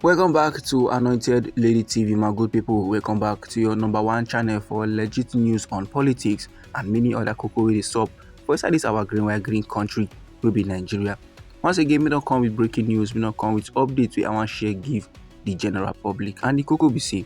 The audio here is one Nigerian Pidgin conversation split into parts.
welcome back to anointed lady tv my good people welcome back to your number one channel for legit news on politics and many other cocoa wey dey sup for inside this our green white green country wey be nigeria once again we don't come with breaking news we don't come with updates We i wan share give the general public and the cocoa be say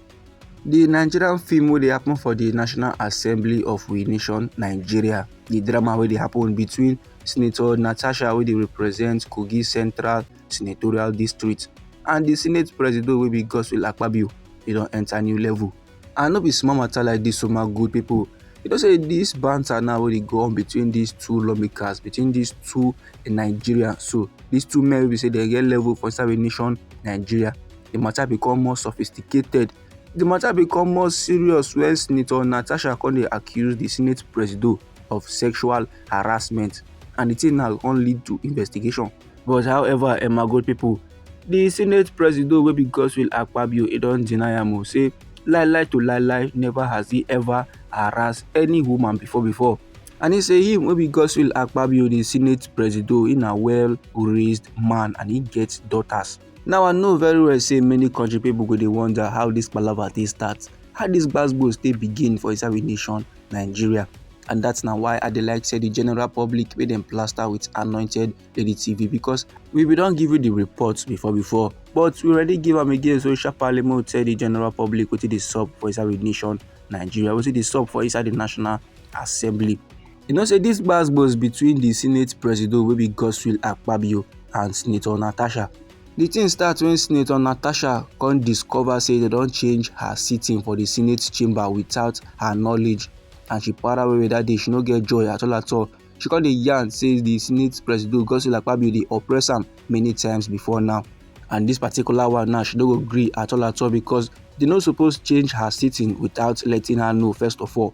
the nigerian film wey dey happen for the national assembly of we nation nigeria the drama wey dey happen between Senator Natasha wey dey represent Kogi Central Senatorial District and the Senate Presido wey be Godswill Akpabio e don enter new level and no be small matter like this so my good people you know say this banter now wey dey go on between these two lawmakers between these two in Nigeria so these two men wey be say dem get level for inside the nation Nigeria the matter become more sophisticated the matter become more serious when Senator Natasha come dey accuse the Senate Presido of sexual harassment and the thing now come lead to investigation. But however, Emma Gold people, the Senate President wey be Godswill Akpabio, he don deny am o say lie lie to lie lie never has he ever harassed any woman before before. And he say him wey be Godswill Akpabio, the Senate President, he na well raised man and he get daughters. Now I know very well say many country people go dey wonder how this palava take start, how this gbasgbos take begin for inside we nation Nigeria. And that's now why I dey like say the general public wey dem plaster with anointed lady TV because we be don give you the reports before before but we already give am again so sharparly make we tell the general public wetin dey sup for inside we nation Nigeria, wetin dey sup for inside the national assembly. You know say this gbas gbos between the Senate Presido wey be Godswill Akpabio and Senator Natasha. The thing start when Senator Natasha come discover say they don change her sitting for the Senate chamber without her knowledge and she para away that day she no get joy at all at all. She come dey yarn say the Senate Presido Godswill Akpabio dey oppress am many times before now and this particular one now she no go gree at all at all because they no suppose change her sitting without letting her know first of all.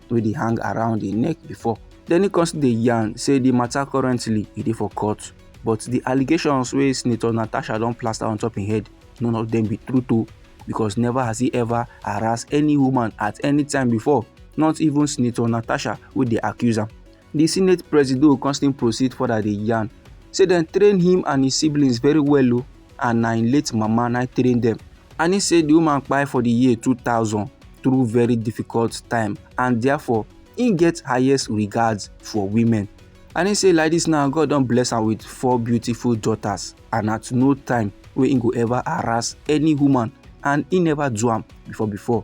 wey dey hang around im neck before den e come still dey yarn say di matter currently e dey for court but di allegations wey senator natasha don plaster on top im head none of dem be true o because never has he ever harassed any woman at any time before not even senator natasha wey dey accuse am Di senate presido come still proceed further dey yarn say dem train him and his siblings very well o oh, and na im late mama na train dem and he say the woman kpai for the year 2000 through very difficult time and therefore he get highest regards for women and he say like this now god don bless am with four beautiful daughters and at no time wey he go ever harass any woman and he never do am before before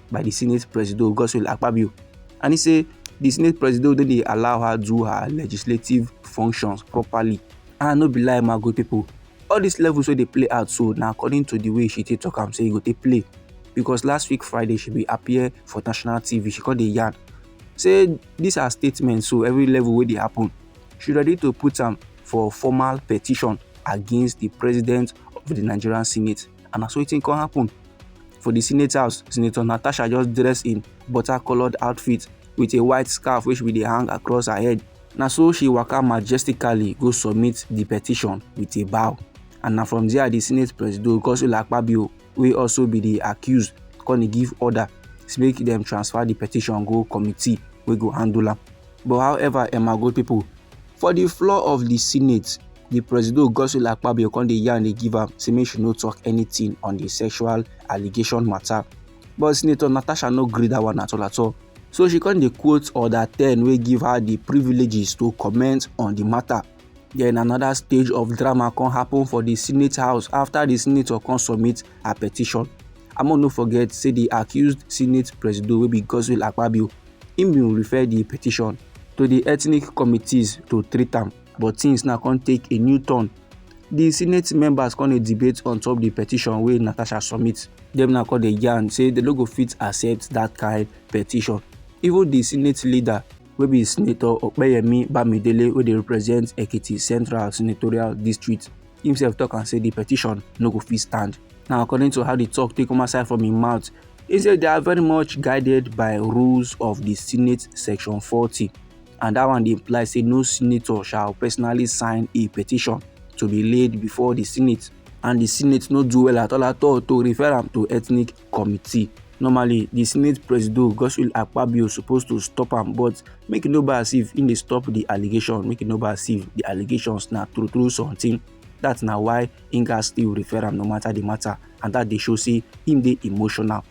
by di senate presido godswill akpabio and e say di senate presido no dey allow her do her legislative functions properly and no be lie my good pipo all dis levels wey dey play out so na according to di way she take tok am say e go take play because last week friday she bin appear for national tv she come dey yarn say dis her statement so every level wey dey happen she ready to put am for formal petition against di president of di nigerian senate and na so wetin come happen for di senate house senator natasha just dress in butter coloured outfit with a white scarf wey she bin dey hang across her head na so she waka majestically go submit di petition with a bow and na from there di senate presido godswill akpabio wey also be di accused come dey give order say make dem transfer di petition go committee wey go handle am but however emma gold pipo for di floor of di senate di presido godswill akpabio come dey yarn dey give am say make she no talk anything on di sexual allegation matter but senator natasha no gree that one at all at all so she come dey quote order ten wey give her di privileges to comment on di matter then another stage of drama come happen for di senate house after di senator come submit her petition among no forget say di accused senate presido wey be godswill akpabio im bin refer di petition to di ethnic committees to treat am but tins now come take a new turn di senate members come dey debate on top di petition wey natasha submit dem now come dey yarn say dem no go fit accept dat kain petition even di senate leader wey be senator opeyemi bamidele wey dey represent ekiti central senatorial district himself tok am say di petition no go fit stand now according to how di tok take come outside from im mouth he say they are very much guided by rules of di senate section forty and dat one dey imply say no senator shall personally sign a petition to be laid before di senate and di senate no do well at all at all to refer am to ethnic committee normally di senate presido godswill akpabio suppose to stop am but make e no be as if im dey stop di allegation make e no be as if di allegations na true true something dat na why im gatz still refer am no matter di matter and dat dey show say im dey emotional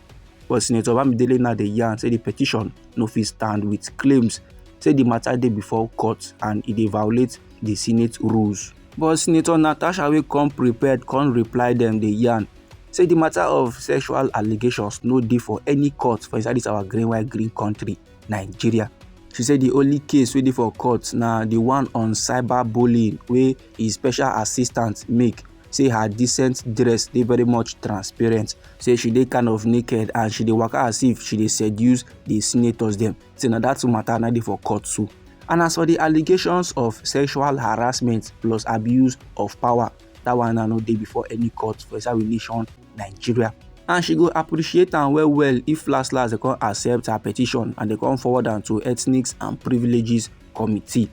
but senator bamidele now dey yarn say di petition no fit stand wit claims say di mata dey before court and e dey violate di senate rules. But Senator Natasha wey come prepared come reply dem dey yarn say di mata of sexual allegations no dey for any court for inside dis our green white green kontri, Nigeria. She say di only case wey dey for court na di one on cyber bullying wey his special assistant make say her decent dress dey very much transparent say she dey kind of naked and she dey waka as if she dey seduce the senators dem say na that matter na dey for court too and as for the allegations of sexual harassment plus abuse of power that one na no dey before any court for inside we nation nigeria and she go appreciate am well well if last last dem come accept her petition and dem come forward am to ethnics and privileges committee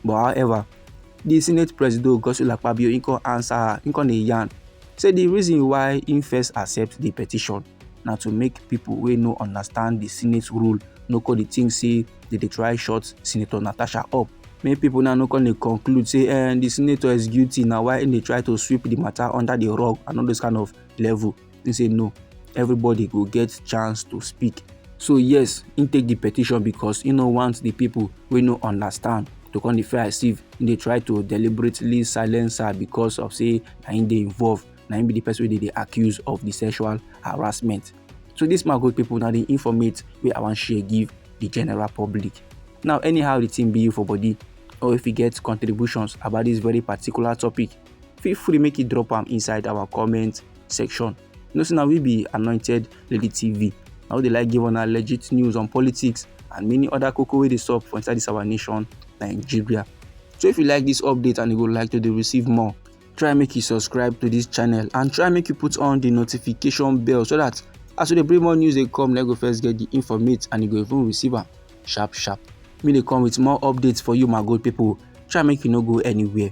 But however, di Senate Presido Godswill Akpabio im come answer her, im come dey yarn say di reason why im first accept di petition na to make pipo wey no understand di Senate rule no come dey think say dem dey try shut Senator Natasha up. Make pipo now no come dey conclude say eh, di senator is guilty na why im dey try to sweep di matter under di rug and all those kind of level. he say no everybody go get chance to speak so yes he take the petition because he no want the people wey no understand to come dey feel as if he dey try to deliberately silence her because of say na him dey involved na him be the person wey dey dey accuse of the sexual harassment so this man good people na the informate wey i wan share give the general public now anyhow the thing be you for body or if you get contributions about this very particular topic feel free make you drop am inside our comment section you know say na we be anointed lady tv na we dey like give una legit news on politics and many other koko wey dey sup for inside this our nation nigeria so if you like this update and you go like to dey receive more try make you subscribe to this channel and try make you put on the notification bell so that as we dey bring more news dey come na go first get the informate and you go even receive am sharp sharp me dey come with more updates for you my good people try make you no go anywhere